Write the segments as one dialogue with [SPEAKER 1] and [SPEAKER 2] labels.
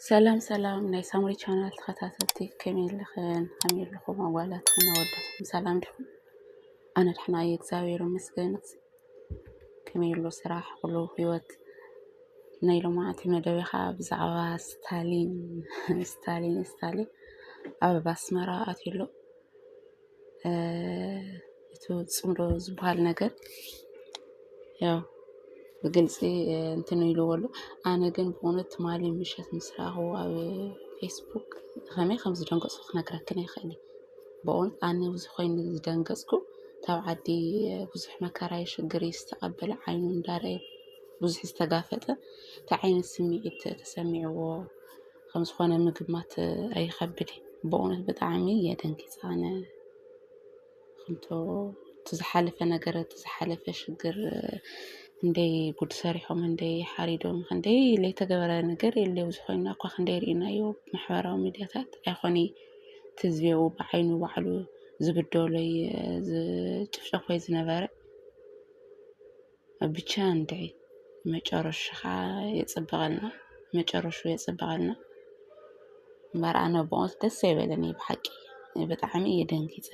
[SPEAKER 1] ሰላም ሰላም ናይ ሳምሪ ቻናል ተኸታተልቲ ከመይ ኣለኽን ከመይ ኣለኹም ኣዋላትኩም ኣወዳትኩም ሰላም ዲኹም? ኣነ ደሕና እየ እግዚኣብሔር ይመስገን። ከመይ ኣሎ ስራሕ ኩሉ ህይወት ናይ ሎማዓንቲ መደበ ከዓ ብዛዕባ ስታሊን ስታሊን ስታሊን ኣብ ኣስመራ ኣትዩ ኣሎ እቲ ፅምዶ ዝበሃል ነገር ያው ብግልፂ እንትን ኢልዎ ኣሎ ኣነ ግን ብእውነት ትማሊ ምሸት ምስ ረኣኽዎ ኣብ ፌስቡክ ከመይ ከም ዝደንገፅኩ ክነግረክን ኣይክእልን እየ። ብእውነት ኣነ እዚ ኮይኑ ዝደንገፅኩ ካብ ዓዲ ብዙሕ መከራ እዩ ሽግር እዩ ዝተቐበለ ዓይኑ እንዳረኣየ ብዙሕ ዝተጋፈጠ እንታይ ዓይነት ስምዒት ተሰሚዕዎ? ከም ዝኾነ ምግማት ኣይኸብድን እዩ በእውነት ብጣዕሚ እየ ደንጊፀ ኣነ ከምቶ እቲ ዝሓለፈ ነገር እቲ ዝሓለፈ ሽግር ክንደይ ጉድ ሰሪሖም ክንደይ ሓሪዶም ክንደይ ዘይተገበረ ነገር የለ ኣብዚ ኮይና እኳ ክንደይ ርኢናዮ ማሕበራዊ ሚድያታት ኣይኾነ እቲ ህዝቢ ኣብኡ ብዓይኑ ባዕሉ ዝብደሎይ ዝጭፍጨፎይ ዝነበረ ብቻ እንድዒ መጨረሽኻ የፅብቐልና መጨረሽኡ የፅብቐልና እምበር ኣነ ብሞት ደስ ኣይበለኒ ብሓቂ ብጣዕሚ እየ ደንጊፀ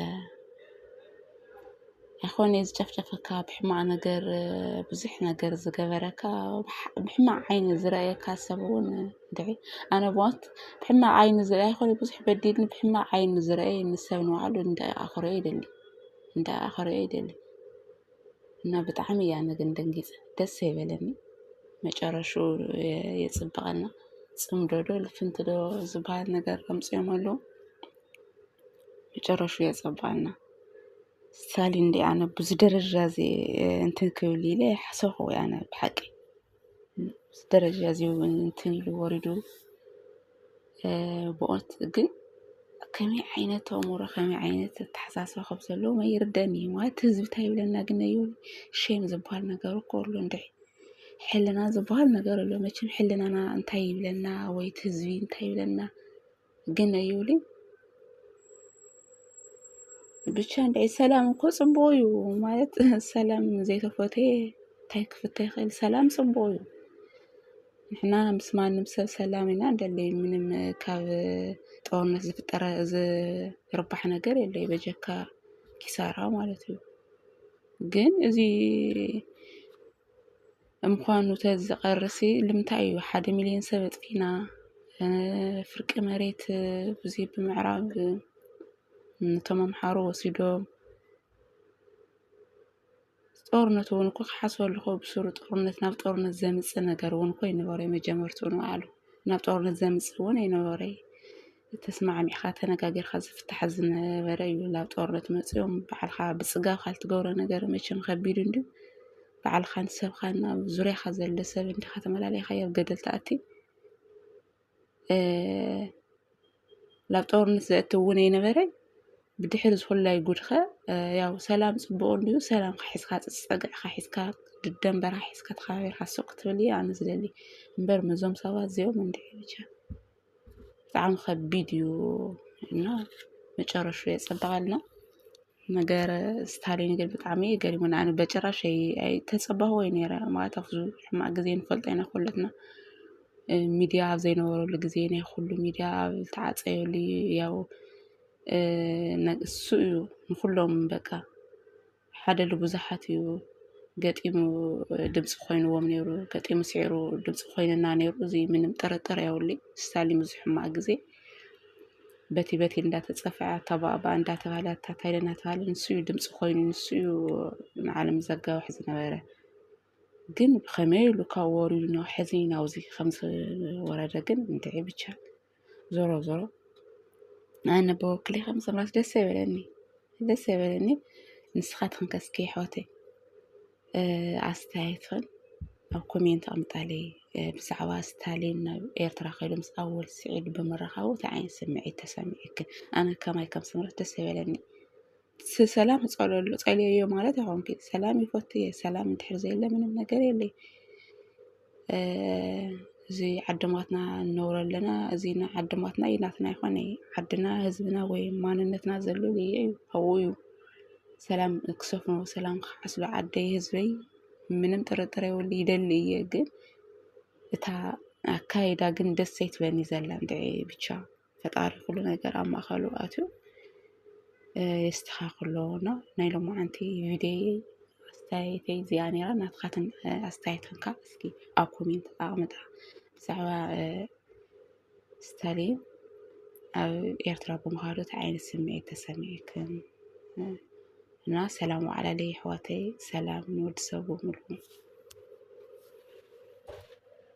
[SPEAKER 1] ኣይኮነ ዝጨፍጨፈካ ብሕማቕ ነገር ብዙሕ ነገር ዝገበረካ ብሕማቕ ዓይኒ ዝረኣየካ ሰብ እውን እንድዒ ኣነ ብሞት ብሕማቕ ዓይኒ ዝረኣየ ኮነ ብዙሕ በዲልኒ ብሕማቕ ዓይኒ ዝረኣየ ንሰብ ንባዕሉ እንዳ ኣኽርዮ ይደሊ እንዳ ኣኽርዮ ይደሊ እና ብጣዕሚ እያ ግን ደንጊፀ ደስ ኣይበለኒ መጨረሽኡ የፅብቐና ፅምዶ ዶ ልፍንቲ ዶ ዝባሃል ነገር ኣምፂኦም ኣለው መጨረሽኡ የፀብቐና ሳሊ እንድየ ኣነ ብዙይ ደረጃ እዙይ እንትን ክብል ኢለ ኣይሓሰብኩ ኣነ ብሓቂ። ደረጃ እዚዩ እንትን ኢሉ ወሪዱ ብቕት ግን ከመይ ዓይነት ኣእምሮ ከመይ ዓይነት ኣተሓሳስባ ከም ዘለዎም ኣይርደአንን እዩ ማለት ህዝቢ ታይ ይብለና ግን እዩ ሼም ዝበሃል ነገር እኮ ኣሎ እንድዒ ሕልና ዝበሃል ነገር ኣሎ መቸም ሕልናና እንታይ ይብለና ወይ እቲ ህዝቢ እንታይ ይብለና ግን ኣዩሊ ብቻ እንደ ሰላም እኮ ፅቡቅ እዩ ማለት ሰላም ዘይተፈተየ እንታይ ክፍተ ይኽእል? ሰላም ፅቡቅ እዩ። ንሕና ምስ ማንም ሰብ ሰላም ኢና እንደሊ ምንም ካብ ጦርነት ዝፍጠረ ዝርባሕ ነገር የለይ በጀካ ኪሳራ ማለት እዩ። ግን እዚ ንምኳኑ ተዚ ቀርሲ ልምታይ እዩ ሓደ ሚልዮን ሰብ ኣጥፊና ፍርቂ መሬት ብዙይ ብምዕራብ ነቶም ኣምሓሩ ወሲዶም ጦርነት እውን እኮ ክሓስበሉ እኮ ብሱሩ ጦርነት ናብ ጦርነት ዘምጽእ ነገር እውን እኮ ኣይነበረይ መጀመርትኡ ንባዕሉ ናብ ጦርነት ዘምጽእ እውን ኣይነበረይ ተስማዕሚዕኻ ተነጋጊርካ ዝፍታሕ ዝነበረ እዩ ናብ ጦርነት መጺኦም ባዕልኻ ብጽጋብካ ልትገብሮ ነገር መቸም ከቢድ እንድዩ ባዕልኻን ሰብኻን ኣብ ዙርያኻ ዘሎ ሰብ እንዲኻ ተመላሊኻ ኣብ ገደል ትኣቲ ናብ ጦርነት ዘእቲ እውን ኣይነበረ ብድሕሪ ዝኹላይ ጉድኸ ያው ሰላም ጽቡቕ እንድዩ ሰላምካ ሒዝካ ጽጸግዕካ ሒዝካ ድደንበርካ ሒዝካ ተኸባቢርካ ሱቅ ክትብል እየ ኣነ ዝደሊ እምበር ምዞም ሰባት እዚኦም እንድዒ ብቻ ብጣዕሚ ከቢድ እዩ እና መጨረሽኡ የፀብቐልና ነገር ስታሊን ግን ብጣዕሚ እዩ ገሪሙኒ ኣነ በጭራሽ ኣይተፀበኹዎይ ነይረ ማለት ኣብ ከምዚ ሕማቕ ግዜ ንፈልጦ ኢና ኩለትና ሚድያ ኣብ ዘይነበረሉ ግዜ ናይ ኩሉ ሚድያ ኣብ ዝተዓፀየሉ ያው ንሱ እዩ ንኹሎም በቃ ሓደ ልብዙሓት እዩ ገጢሙ ድምፂ ኮይንዎም ነይሩ ገጢሙ ስዒሩ ድምፂ ኮይንና ነይሩ እዚ ምንም ጥርጥር የብሉይ ስታሊን ብዙሕ ሕማቅ ጊዜ በቲ በቲ እንዳተፀፈዐ ኣታ ባኣባ እንዳተባሃለ ኣታ ታይለ እናተባሃለ ንሱ እዩ ድምፂ ኮይኑ ንሱ እዩ ንዓለም ዘጋውሕ ዝነበረ ግን ብኸመይ ኢሉ ካብ ወሪዱ ናብ ሕዚ ናብዚ ከምዝወረደ ግን እንድዒ ብቻ። ዞሮ ዞሮ ኣነ ብወክሊ ከም ሰምራዊት ደስ ኣይበለኒ ደስ ኣይበለኒ ንስኻትክን ከ እስኪ ኣሕዋተይ ኣስተያየትክን ኣብ ኮሜንት ኣምጣለይ ብዛዕባ ስታሊን ናብ ኤርትራ ከይዱ ምስ ኣወል ስዒድ ብምርኻቡ እንታይ ዓይነት ስምዒት ተሰሚዑክን ኣነ ከማይ ከም ሰምራዊት ደስ ኣይበለኒ ሰላም ጸለሉ ጸልየዮ ማለት ኣኹም ኪድ ሰላም ይፈቱ እየ ሰላም እንድሕር ዘየለ ምንም ነገር የለይ። እዚ ዓድማትና እነብሮ ኣለና እዚ ዓድማትና እዩ ናትና ይኾነ ዓድና ህዝብና ወይ ማንነትና ዘሉ እየ እዩ ኣብኡ እዩ። ሰላም ክሰፍኖ ሰላም ክዓስሎ ዓደይ ህዝበይ ምንም ጥርጥር የብሉ ይደሊ እየ ግን እታ ኣካይዳ ግን ደስ ኣይትብለኒ ዘላ እንድዒ ብቻ። ፈጣሪ ኩሉ ነገር ኣብ ማእኸሉ ኣትዩ የስተኻኽሎ እና ናይ ሎማዓንቲ ቪድዮየ ኣስተያየተይ እዚኣ ነይራ ናትኻትን ኣስተያየትን ካዓ እስኪ ኣብ ኮሜንት ኣቅምጣ ብዛዕባ ስታሊን ኣብ ኤርትራ ብምዃኑ እንታይ ዓይነት ስምዒት ተሰሚዕክን እና ሰላም ዋዕላለይ ኣሕዋተይ ሰላም ንወዲ ሰብ ብምሉ